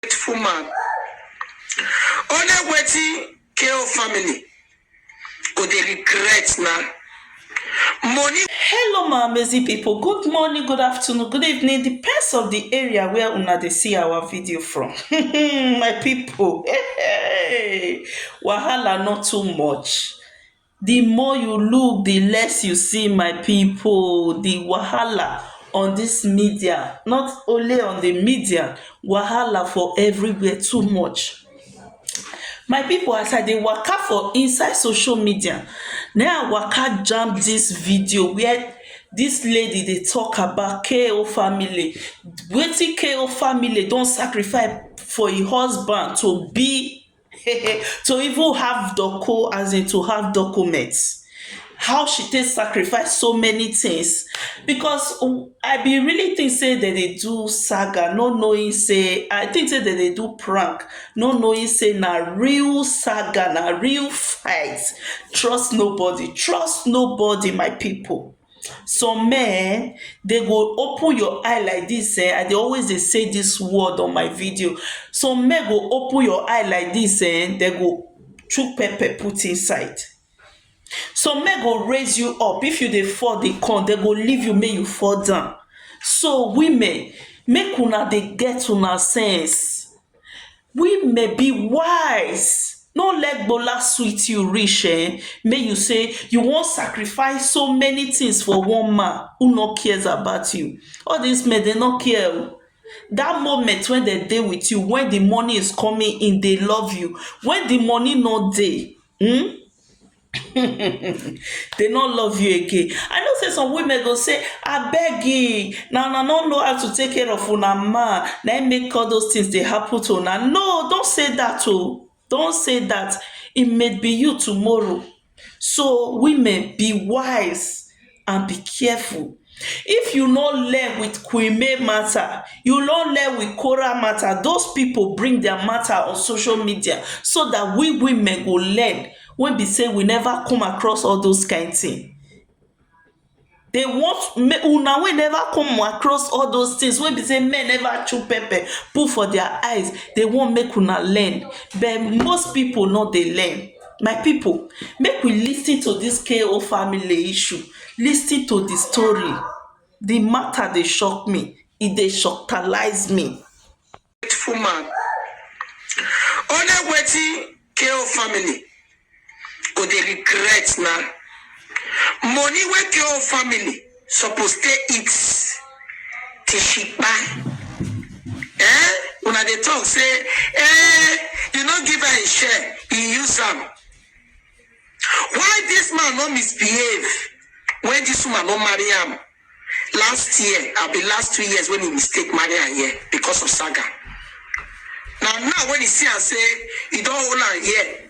grateful man. Only wetin KO family go dey regret na money Hello my amazing people, good morning, good afternoon, good evening, depends of the area where una dey see our video from. my people, wahala not too much. The more you look the less you see my people the wahala on this media not only on the media wahala for everywhere too much my people as I dey waka for inside social media na I waka jam this video where this lady dey talk about KO family wetin KO family don sacrifice for him husband to be to even have doco as in to have documents how she take sacrifice so many things because oh, I be really think say that they do saga, no knowing say I think say that they do prank, no knowing say na real saga, na real fight. Trust nobody, trust nobody, my people. some men dey go open your eye like dis um i dey always dey say dis word on my video some men go open your eye like dis um dey go chook pepper put inside some men go raise you up if you dey fall dey come dey go leave you make you fall down so women make una dey get una sense We may be wise no let gbola sweet you reach um make you say you wan sacrifice so many things for one man who no cares about you. All dis men dem no care oh, dat moment wey dem dey with you when di money is coming in dey love you, when di money no dey um They no love you again. I know say some women go say, I beg you, now I no know how to take care of una man. Now make all those things they happen to una. No, don't say that oh. Don't say that. It may be you tomorrow. So women, be wise and be careful if you no learn with Queen May matter, you no learn with Korah matter, those people bring their matter on social media so that we women go learn when be say we never come across all those kind thing. They want me una wey never come across all those things wey be say men never chew pepper put for their eyes. They want make una learn, but most people no dey learn. My pipu make we lis ten to dis KO family issue, lis ten to di story, di mata dey shock me, e dey shocktalize me. Beautiful man, only wetin KO family go dey regret na money wey KO family. suppose take it till she kpai eh una dey talk say eh you no give her a share you use am why this man no misbehave when this woman no marry am last year abi last two years when he mistake marry am here because of saga na now when he see am say he don hold am here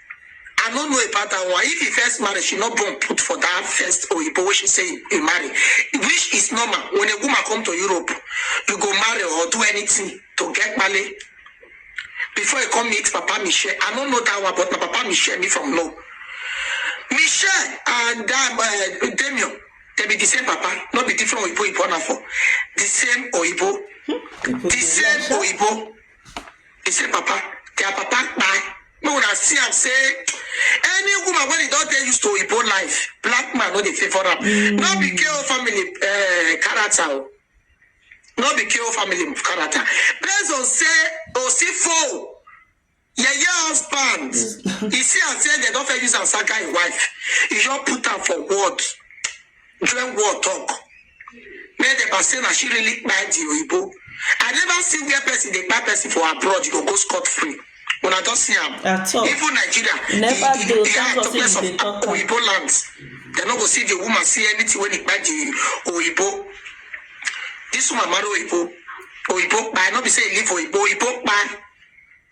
I no know about that one. If he first married, she not born put for that first Oyibo wey she say he marry, which is normal. When a woman come to Europe, you go marry or do anything to get money. Before you come meet Papa Michel, I don't know that one, but my Papa Michel me from know. Michel and um, uh, Damien, they be the same Papa, not be different Oyibo Ibo na for. The same Oyibo, the same Oyibo. He say, Papa, their papa kpai. Make una see am say any woman wey e don dey used to Igbo life, black man no dey favour am. No be KO family uh, character o. No be KO family character. Based on say Osifo yeye husband, e see am say dem don fit use am saga im wife. E just put am for word. During war talk, make dem pass say na she really kpai the oyibo. I never see where person dey kpai person for abroad, you go go scot free. Una don see am. At all. Even Nigeria, Never the, the, do, the thank high God say topless you of dey talk am. oyibo lands, dem no go see the woman see anything wey dey kpai the oyibo. This woman marry oyibo, oyibo kpai, no be say e leave oyibo, oyibo kpai.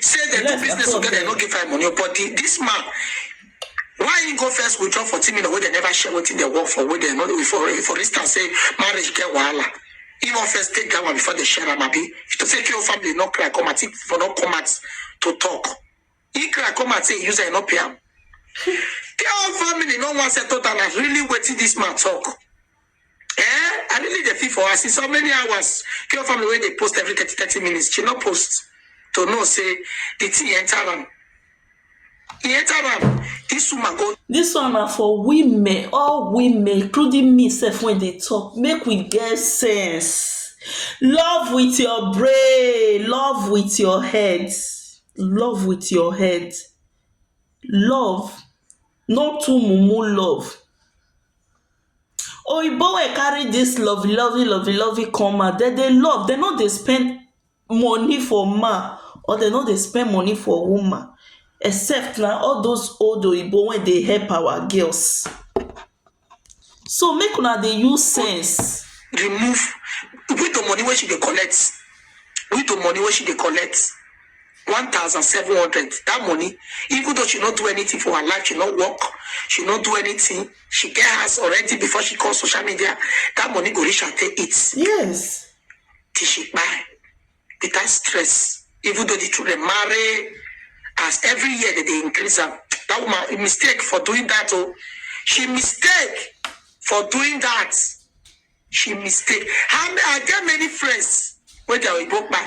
say dem do business together no give five money but the, this man why he go first withdraw fourteen million wey dem never share wetin dem work for wey dem no for for instance say marriage get wahala he wan first take that one before they share am abi if to say kí o family no cry come out he for no come out to talk he cry come out say he use am he no pay am kí o family no wan settle down na really wetin this man talk. Eh, I really dey feel for her. See so many hours. Kill family when they post every 30, 30 minutes. She not post to know say the thing enter am. He enter am. This woman go This one na for women, all women, including me sef when they talk, make we get sense. Love with your brain, love with your head, love with your head. Love, not too mumu love. Oyinbo wey carry dis lovey lovey lovey lovey come out dem dey love dem no dey spend money for man or dem no dey spend money for woman except na all those old oyinbo wey dey help our girls so make una dey use sense remove with the money wey she dey collect with the money wey she dey collect one thousand seven hundred that money even though she no do anything for her life she no work she no do anything she get house already before she come social media that money go reach her take eat yes till she kpai without stress even though the children marry as every year they dey increase am that woman mistake for doing that o oh. she mistake for doing that she mistake how many i get many friends wey their oyibo kpai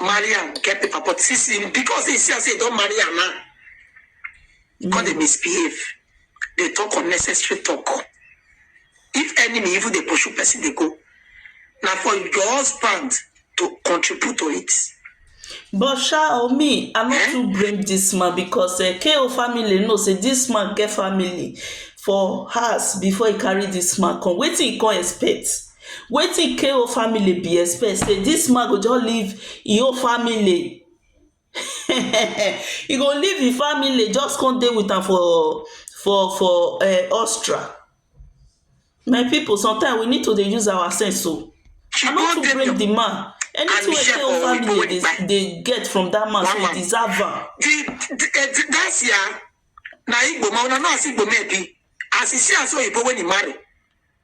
marry am get paper but since he because he see am say he don marry am now mm. come dey misbehave dey talk unnecessary talk if enemy even dey pursue person dey go na for your husband to contribute to it. but sha o me i no eh? too blame dis man because eh, ko family know say dis man get family for house before he carry dis man come wetin he come expect. Wetin KO family bin expect sey dis man go just leave im own family e go leave im family just come dey with am for for for um Austria my people sometimes we need to dey use our sense oh I no too blame the man anything wey KO family dey dey dey get from that man so e deserve am na Igbo man una know as Igbo men be as e see am so oyibo wey e marry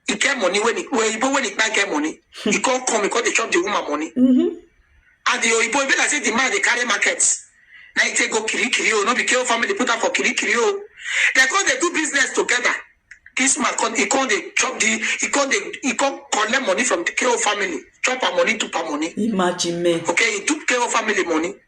He get money when he when Igbo when he can't get money. He can't come, he can't chop the woman money. Mm-hmm. And the Igbo even like say the man they carry market. Now he take go kiri kiri oh, no be KO family put up for kiri kiri oh. They come they do business together. This man come he come they chop the he come they he come collect money from the KO family, chop her money, to her money. Imagine me. Okay, he took KO family money.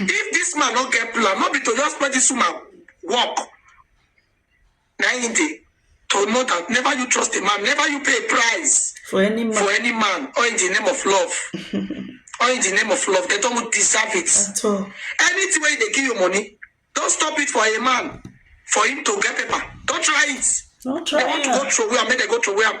if this man no get plan no be to just let this woman work na him dey to know that never you trust a man never you pay a price for any man for any man or in the name of love or in the name of love they don't deserve it at all anything wey dey give you money don stop it for a man for him to get paper don try it no they try want to go am throw away am make they go throw away am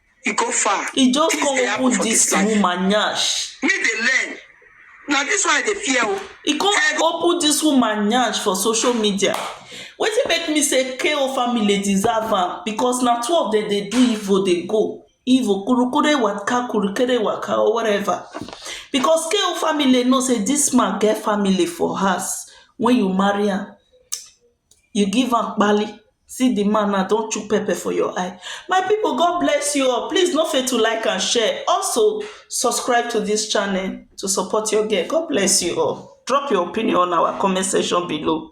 e go far e just Things come dey happen open for this this life woman nyash me dey learn na this one i dey fear o e come Hey, go- open this woman nyash for social media wetin make me say ko family deserve am because na two of them dey do evil dey go evil kurukure waka kurukere waka or whatever because ko family know say this man get family for house when you marry am you give am kpali see di man now don chook pepper for your eye my pipo God bless you all please no fail to like and share also subscribe to dis channel to support your girl God bless you all drop your opinion on our comment section below.